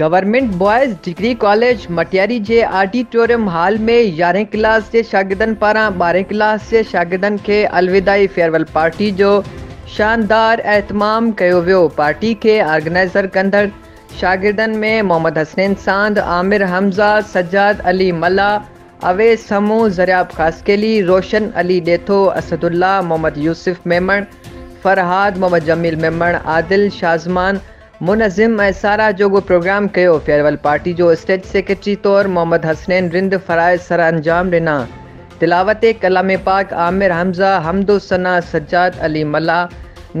Government boys degree college Matiari جي auditorium hall ۾ يارهين class جي شاگردن پاران ٻارهين ڪلاس جي شاگردن کي الوداعي فيئرويل پارٽي جو شاندار اهتمام ڪيو ويو پارٽي کي آرگنائزر ڪندڙ شاگردن ۾ محمد حسنين ساند، عامر حمزه، سجاد علي ملاح، اويس سمو، زرياب خاصخيلي، روشن علي ڏيٿو، اسدالله، محمد يوسف ميمڻ، فرهاد، محمد جميل ميمڻ، عادل، شازمان، منظم ۽ ساراهه جوڳو پروگرام ڪيو، فيئرويل پارٽي جو اسٽيج سيڪريٽري طور محمد حسنين رند فرائض سرانجام ڏنا، تلاوت ڪلام پاڪ عامر حمزه، حمدوثنا سجاد علي ملاح،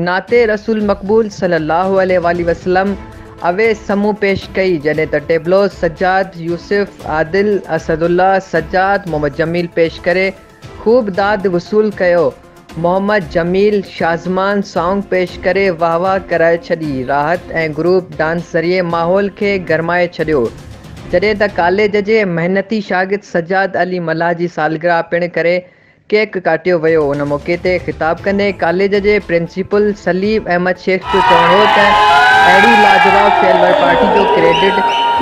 نعت رسول مقبول صلي الله عليه واٰله وسلم اويس سمون پيش ڪئي، جڏهن ته ٽيبلوز سجاد، يوسف، عادل، اسد الله، سجاد، محمد جميل پيش ڪري، خوب داد وصول ڪيو. محمد جميل شازمان سانگ پيش ڪري واھ واھ ڪرائي ڇڏي. راحت ۽ گروپ ڊانس ذريعي ماحول کي گرمائي ڇڏيو. جڏهن ته ڪاليج جي محنتي شاگرد سجاد علي ملاح جي سالگرهه پڻ ڪري ڪيڪ ڪاٽيو ويو. ان موقعي تي خطاب ڪندي ڪاليج جي چيف السليم احمد شيخ جو چوڻ هو ته اهڙي لاجواب فيئر ويئر پارٽي جو ڪريڊٽ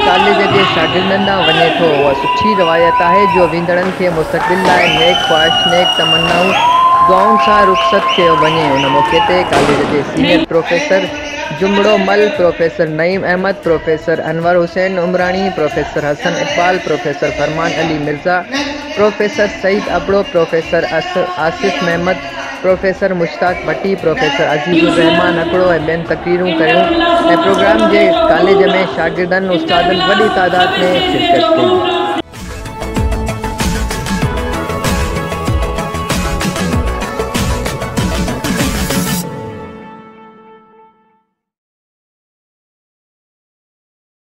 ڪاليج جي شاگردن ڏانهن وڃي ٿو، اها سٺي روايت آهي جو ويندڙن کي مستقبل لاء نيڪ خواهش، نيڪ تمنائون، دعائن سان رخصت ڪيو وڃي. ان موقعي تي ڪاليج جي senior professor Jamro Mal, professor Naeem Ahmed, professor Anwar Hussain Umrani, professor Hassan Iqbal, professor Farman Ali Mirza, professor Saeed Abro, professor Asif Muhammad, professor Mushtaq Bhatti, professor Aziz Urrehman Akro ۽ ٻين تقريرون ڪيون ۽ پروگرام جي ڪاليج ۾ شاگردن استادن وڏي تعداد ۾ شرڪت ڪئي.